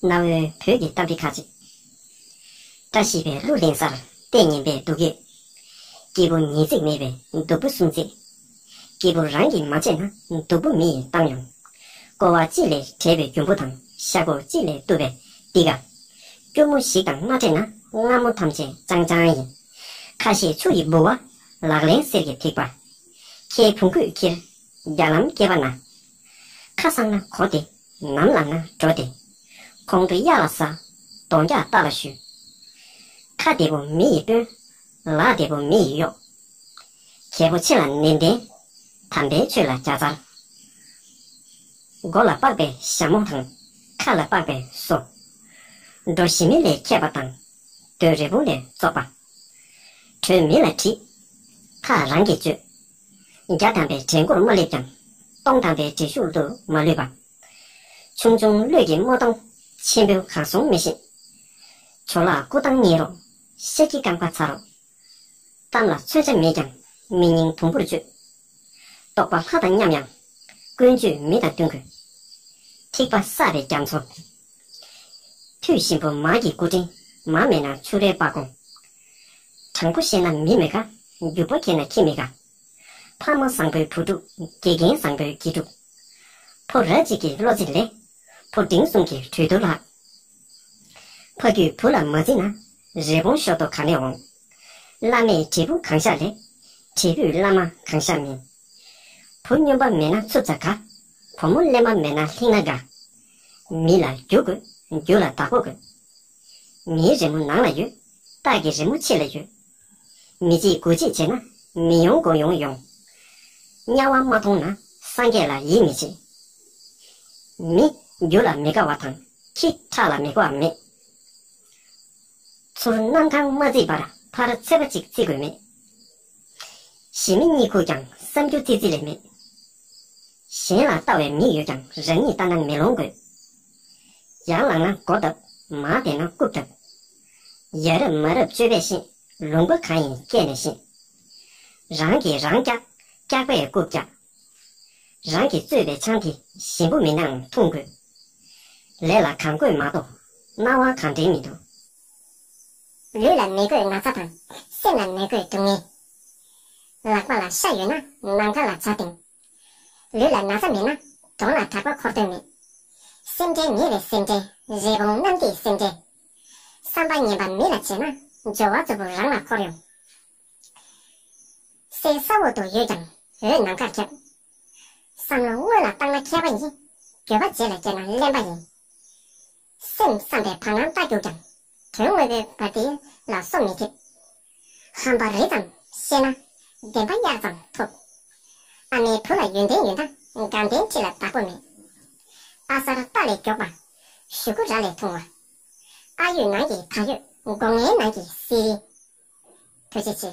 གནའ་བོའི་བོད་ཀྱི་གཏམ་དཔེ་ཁག་ཅིག། བཀྲ་ཤིས་པའི་གླུ་ལེན་སར་ལྟས་ངན་པའི་སྡུག་སྐད། སྐྱེས་བུ་ཉིས་བརྩེགས་མེད་པའི་སྡུག་པོ་གསུམ་བརྩེགས། སྐྱེས་བུ་རང་གིས་མ་བྱས་ན་སྡུག་པོ་མི་ཡི་གཏམ་ཡོང། ཀོ་བ་གཅིག་ལས་བྲལ་བའི་རྒྱུ་འབུ་དང་ཤ་ཁུ་གཅིག་ལས་བཏུབ་པའི་ཏི་ཀ། སྐྱུར་མོ་ཞིག་དང་མ་འདྲེས་ན་རྔ་མོ་ཐམས་ཅད་ལྕང་ལྕང་ཡིན། ཁ་ཤས་ཆུ་ཡི་ལྦུ་བ། ལག་ལེན་གསེར་གྱི་ཐིགས་པ། ཁྱེའི་བུང་ཁུས་ཁྱིར། རྒྱ་ལམ་སྐྱེས་པ་ན་ཁ་བསང་ན་གོ་སྟེ་ནམ་ལངས་ན་འགྲོ་སྟེ། གོང་དུ་གཡག་ལ་ཟ། གདོང་རྒྱག་སྟག་ལ་བཞུད། ཁ་བདེ་པོ་མི་ཡིས་དཔོན། ལག་བདེ་པོ་མི་ཡིས་གཡོག། གལ་པོ་ཆེ་ལ་ནན་ཏན། དམ་པའི་ཆོས་ལ་བརྒྱ་རྩར། མགོ་ལ་པགས་པའི་ཞྭ་མོ་དང། ཁ་ལ་པགས་པའི་སོ། འགྲོ་ཞི་མི་ལས་ཁྱད་པ་དང། རྡོའི་རི་བོང་ལས་བཙོག་པ། གྲོས་མི་ལ་དྲིས། ཐག་རང་གིས་གཅོད། བརྒྱ་དམ་པའི་གྲལ་མགོར་མ་སླེབས་ཀྱང། སྟོང་དམ་པའི་འགྲེལ་ཤུགས་དུ་མ་ལུས་པ། ཆུང་ཆུང་གླུད་ཀྱི་རྨོ་སྟངས་ཆེན་པོའི་གང་གཟུང་མི་ཤེས། བྱོ་ལག་སྐུ་ཐང་ཉིད་རོ་གཤེགས་ཀྱི་རྐང་པ་ཚར་རོ། གཏམ་ལ་མཚོན་ཆ་མེད་ཀྱང་མི་སྙིང་དུམ་བུར་གཅོད། རྟོགས་པ་ལྷ་དང་མཉམ་ཡང་ཀུན་སྤྱོད་མི་དང་བསྟུན་དགོས། ཐིགས་པ་བསགས་པའི་རྒྱ་མཚོ། མཐུད་ཤིང་བུ་མ་ཀྱི་སྐུ་དྲིན་མ་མེད་ན་ཆུ་རལ་པ་སྒོང། དྲང་པོ་བཤད་ན་མི་མི་དགའ། རྒྱུ་པོ་ཁྱེད་ན་ཁྱི་མི་དགའ། ཕ་མ་བཟང་པོའི་བུ་ཕྲུག། དགེ་རྒན་བཟང་པོའི་དགེ་ཕྲུག། ཕོ་ར་གཅིག་གི་བློ་རྩིས་ལེགས། ཕོ་འབྲིང་གསུམ་གྱི་གྲོས་བསྡུར་ལྷག། ཕ་རྒྱུད་བུ་ལ་མ་བརྩིས་ན། རི་བོང་ཤོག་ཐོ་ག་ནས་འོང། བླ་མས་དྲིལ་བུ་གང་བཞག་ལེགས། དྲིལ་བུས་བླ་མ་གང་བཞག་མིན། བུ་སྨྱོན་པ་མེད་ན་འཚུབ་ཚ་དགའ། བུ་མོ་གླེན་པ་མེད་ན་ལྷིང་ན་དགའ། མི་ལ་རྒྱུ་དགོས་རྒྱུ་ལ་བདག་པོ་དགོས། མིའི་རི་མོ་ནང་ལ་ཡོད། སྟག་གི་རི་མོ་ཕྱི་ལ་ཡོད། མི་གཅིག་དགུ་གཅིག་བྱེད་ན། མི་ཡོང་དགུ་ཡོང་ཡོང། དམྱལ་བ་མ་མཐོང་ན་སངས་རྒྱས་ལ་ཡིད་མི་ཆེས། མི། རྒྱུ་ལ་མི་དགའ་བ་དང། ཁྱི། ཁྲག་ལ་མི་དགའ་བ་མེད། ཚུར་གནམ་གང་མ་བརྫིས་པར་ཕར་ཚེ་པ་གཅིག་བརྩི་དགོས་མེད། ཞི་མི་གཉིད་ཁུག་ཀྱང་བསམ་རྒྱུ་ཙི་ཙི་ལས་མེད། གཞན་ལ་ལྟ་བའི་མིག་ཡོད་ཀྱང་རང་ཉིད་ལྟ་ན་མེ་ལོང་དགོས། ཡར་ལངས་ན་མགོ་བརྡབ་མར་འདེད་ན་རྐུབ་བརྡབ། ཡ་རབས་མ་རབས་སྤྱོད་པས་ཤེས་ལུང་པ་གང་ཡིན་སྐད་ནས་ཤེས། རང་གིས་རང་བཀྱག་བཀྱག་པས་རྐུབ་བཀྱག། རང་གིས་བཙོས་པའི་ཆང་དེ་ཞིམ་པོ་མིན་ནའང་འཐུང་དགོས། ལས་ལ་གང་བསྐོས་མ་གཏོགས་སྣང་བ་གང་དྲན་མི་འདུག། ལུས་ལ་མི་དགོས་ན་ཚ་དང་སེམས་ལ་མི་དགོས་སྡུག་བསྔལ། ལག་པ་ལ་ཤ་ཡོད་ན་ནམ་མཁའ་ལ་བྱ་བཏིང། ལུས་ལ་ན་ཚ་མེད་ན་གྲོང་ལ་གྲགས་པ་འཁོར་དོན་མེད། སེམས་ཁྲལ་ཉེ་བའི་སེམས་ཁྲལ་རི་བོང་གནམ་གྱི་སེམས་ཁྲལ། བསམ་པ་ངན་པ་མི་ལ་བྱས་ན་སྦྱོར་བ་རྫོབ་པོ་རང་ལ་འཁོར་ཡོང། སའི་ས་འོག་ཏུ་ཡོད་ཀྱང་འོད་ནམ་མཁར་ཁྱབ། བསམ་བློ་སྔོན་ལ་བཏང་ན་མཁས་པ་ཡིན། འགྱོད་པ་རྗེས་ལ་སྐྱེས་ན་གླེན་པ་ཡིན། གསུམ་བསམ་པའི་བར་སྣང་བལྟ་རྒྱུག་ཀྱང། དོན་དངོས་པོའི་བར་དེ་ལ་སོ་མི་ཐེབས། ཧམ་པ་རི་ཙམ་ཤེས་ན་བདེན་པ་དབྱར་ཙམ་ཐོབ། ཨ་མའི་བུ་ལ་ཡོན་ཏན་ཡོད་ན་དགའ་ལྡན་ཁྲི་ལ་བདག་པོ་མེད། ཨ་གསར་རྟ་ལས་མགྱོགས་པ། གཞུ་གུ་ར་ལས་ཐུང་བ། ཨ་ཡོད་ནང་གི་ད་ཡོད་སྒོ་ངའི་ནང་གི་བསིལ་རི། ཐུགས་རྗེ་ཆེ།